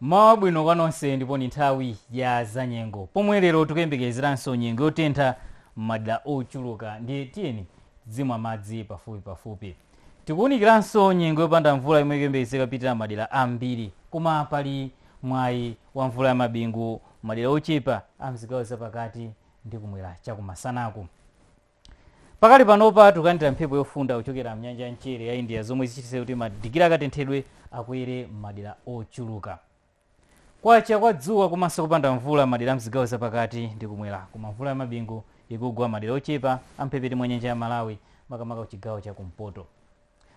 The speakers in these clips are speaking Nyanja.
mmawa wabwino kwa nonse ndipo ni nthawi ya zanyengo pomwe lero tikuyembekezeranso nyengo yotentha m'madera ochuluka ndiye tiyeni tidzimwa madzi pafupipafupi tikuwunikiranso nyengo yopanda mvula yomwe ikuyembekezeka kupitirira madera ambiri koma pali mwayi wa mvula ya mabingu madera ochepa a mzigawo zapakati ndi kumwera chakumasanaku Pakali panopa tikulandira mphepo yofunda kuchokera mnyanja ya mchere ya India zomwe zichititse kuti madigiri akatenthedwe akwere madera ochuluka. Kwacha kwa dzuwa komanso kupanda mvula madera a mzigawo zapakati ndi kumwera koma mvula ya mabingu ikugwa madera ochepa a mphepete mwa nyanja ya Malawi makamaka kuchigawo cha kumpoto.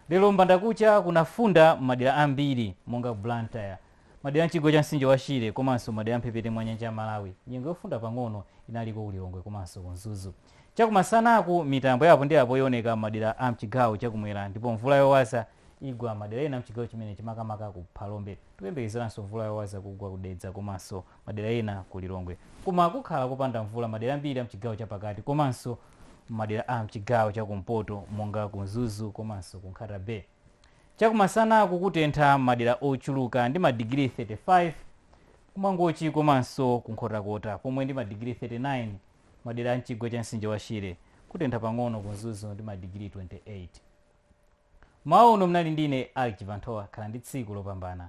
Lero mbandakucha kunafunda madera ambiri monga Blantyre, madera a m'chigwa cha mtsinje wa Shire komanso madera a m'mphepete mwa nyanja ya Malawi. Nyengo yofunda pang'ono inaliko ku Lilongwe komanso ku Mzuzu. Chakumasanaku, mitambo ya apo ndi apo ioneka madera a m'chigawo chakumwera ndipo mvula yowaza igwa madera ena a m'chigawo chimenechi makamaka ku Phalombe. Tikuyembekezeranso mvula yowaza kugwa ku Dedza komanso madera ena ku Lilongwe. Koma kukhala kopanda mvula madera ambiri a mchigawo chapakati komanso madera a mchigawo chakumpoto monga ku Mzuzu komanso ku Nkhata Bay. Chakumasanaku kutentha madera ochuluka ndi madigiri 35 ku Mangochi komanso ku Nkhotakota pomwe ndi madigiri 39 madera a mchigwa cha msinje wa Shire kutentha pang'ono ku Mzuzu ndi madigiri 28. Mmawa uno mnali ndine Alick Chibanthowa khala ndi tsiku lopambana.